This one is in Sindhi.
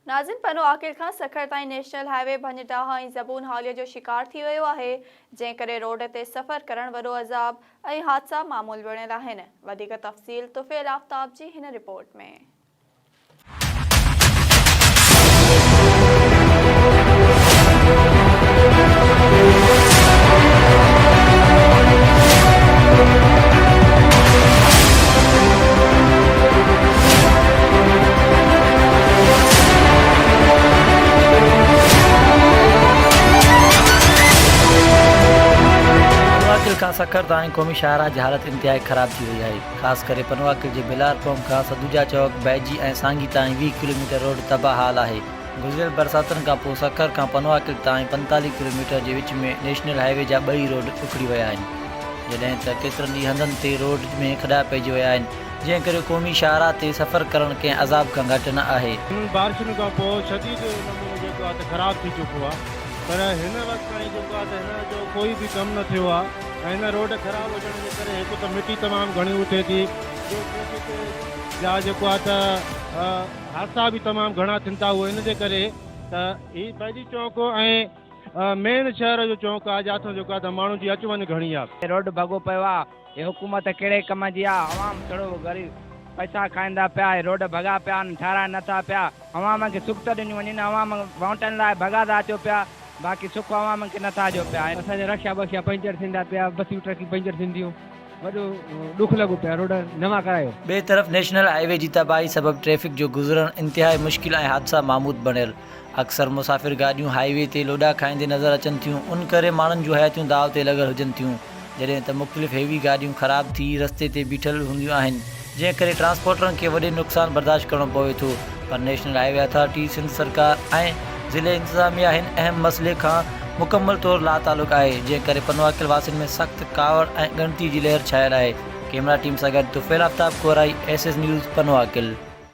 ناظرين پنو عاقل کان سکر تائين نيشنل هاء وي ڀڃ ڊاهه ۽ زبون حاليء جو شڪار ٿي ويو آهي، جنهن ڪري روڊ تي سفر ڪرڻ وڏو عذاب ۽ حادثا معمول بڻيل آهن، وڌيڪ تفصيل طفيل آفتاب جي هن رپورٽ ۾. پنواڪل کان سکر تائين قومي شاهراهه جي حالت انتهائي خراب ٿي وئي آهي، خاص ڪري پنواڪل جي بلار قوم کان سدوجا چوڪ، بئجي ۽ سانگي تائين ويهه ڪلوميٽر روڊ تباهه حال آهي. گذريل برساتن کان پوء سکر کان پنواڪل تائين پنتاليهه ڪلوميٽر جي وچ ۾ نيشنل هاء وي جا ٻئي روڊ اکڙي ويا آهن، جڏهن ته ڪيترن ئي هنڌن تي روڊ ۾ کڏا پئجي ويا آهن. جنهن ڪري قومي شاهراهه تي سفر ڪرڻ ڪنهن عذاب کان گهٽ نه آهي. هنن بارشن کان پوء شديد نموني جيڪو آهي ته خراب ٿي چڪو آهي پر هن وقت تائين جيڪو آهي ته هن جو ڪوئي به ڪم نه ٿيو آهي ۽ هن روڊ خراب هجڻ جي ڪري هڪ ته مٽي تمام گهڻي اٿي ٿي ٻيو ٽريفڪ جا جيڪو آهي ته حادثا به تمام گهڻا ٿين ٿا اهو ان جي ڪري ته هي بيدي چونڪ ۽ مين شهر جو چونڪ آهي جاٿو جيڪو آهي ته ماڻهن جي اچ وڃ گهڻي آهي. روڊ ڀڳو پيو آهي هي حڪومت ڪهڙي ڪم جي آ عوام سڙو غريب پئسا کائيندا پيا هي روڊ ڀڳا پيا آن ٺهرائي نه ٿا پيا عوام کي سک ته ڏنيون وڃن عوام وونٽن لاء ڀڳا ٿا اچو پيا باقي سک عوام کي نه ٿا ڏيو پيا. اسان جا رڪشا بڪشا پنچر ٿيندا پيا بسيون ٽرڪيون پنچر ٿينديون وڏو ڏک لڳو پيا روڊ نوان ڪرايو. ٻئي طرف نيشنل هاء وي جي تباهي سبب ٽريفڪ جو گذرڻ انتهائي مشڪل ۽ حادثا ماموت بڻيل اڪثر مسافر گاڏيون هاء وي تي لوڏا کائيندي نظر اچن ٿيون ان ڪري ماڻهن جون حياتيون داء تي لڳل هجن ٿيون جڏهن ته مختلف هيوي گاڏيون خراب ٿي رستي تي بيٺل هونديون آهن جنهن ڪري ٽرانسپورٽرن کي وڏي نقصان برداشت ڪرڻو پوي ٿو پر national highway authority Sindh سرڪار ۽ ضلعي انتظاميا هن اهم مسئلي کان مڪمل طور لاتعلق آهي جنهن ڪري پنواڪل واسين ۾ سخت ڪاوڙ ۽ ڳڻتي جي لهر ڇانيل آهي ڪيمرا ٽيم سان گڏ Tufail Aftab Korai S S news Pano Aqil.